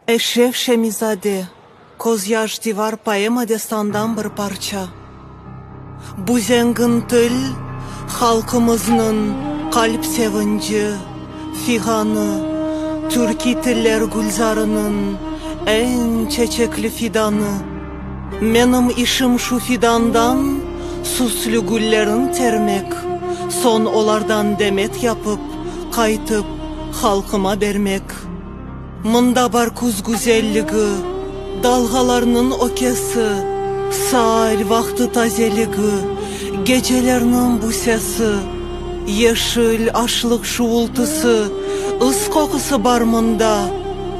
Eşref Şemizade, Közyaş divar poema destandan bir parça. Bu zengin til, halqımıznıñ qalp sevinci, fiğanı, türkiy tiller gülzarınıñ eñ çeçekli fidanı. Menim işim şu fidandan süslü güllerin termek, soñ olardan demet yapıp, qaytıp, halqıma bermek. Mında bar küz güzelligi, dalğalarnıñ ökesi, saal vaqtı tazeligi, gecelerniñ bu sesi, yeşil, aşlıq şuvultısı, ıs qoqusı bar mında.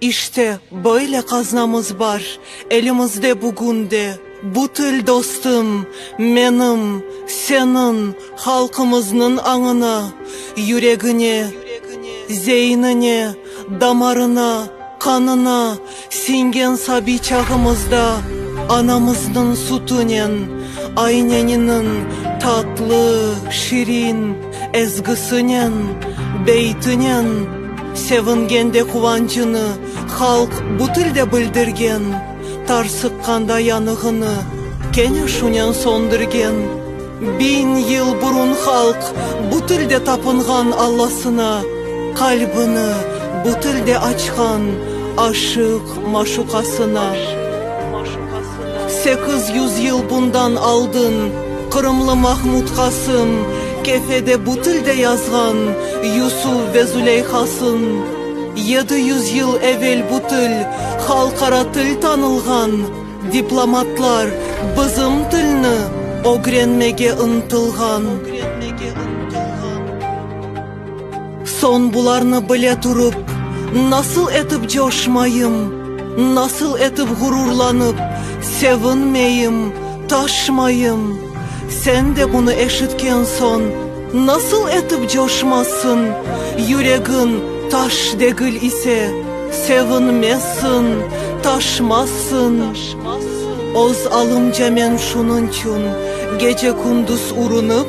İşte, böyle qaznamız bar elimizde bugün de, bu til dostum, menim, seniñ, halqımıznıñ añına, yüregine, zeynine, damarına, qanına siñgen sabiy çağımızda anamıznıñ sütünen, ayneniniñ tatlı, şirin, Ezgisinen, beytinen sevingen de quvancını halq bu tilde bildirgen, tarsıqqanda yanığını kene şunen söndürgen. Biñ yıl burun halq bu tilde tapınğan Allasına qalbını bu tilde açqan aşıq-maşuqasına. Sekiz yüz yıl bundan aldın Qırımlı Mahmud Qasım Kefede bu tilde yazğan Yusuf ve Züleyhasın Yedi yüz yıl evel bu til Halqara til tanılğan Diplomatlar bizim tilni Ögrenmege ıntılğan Soñ bularnı bile turıp, nasıl etip coşmayım, nasıl etip ğururlanıp, sevinmeyim, taşmayım? Sen de bunı eşitken soñ, nasıl etip coşmazsıñ, yüregiñ taş degil ise, sevinmezsiñ, taşmazsıñ? Öz alımca men şunıñçün gece-kündüz urunıp.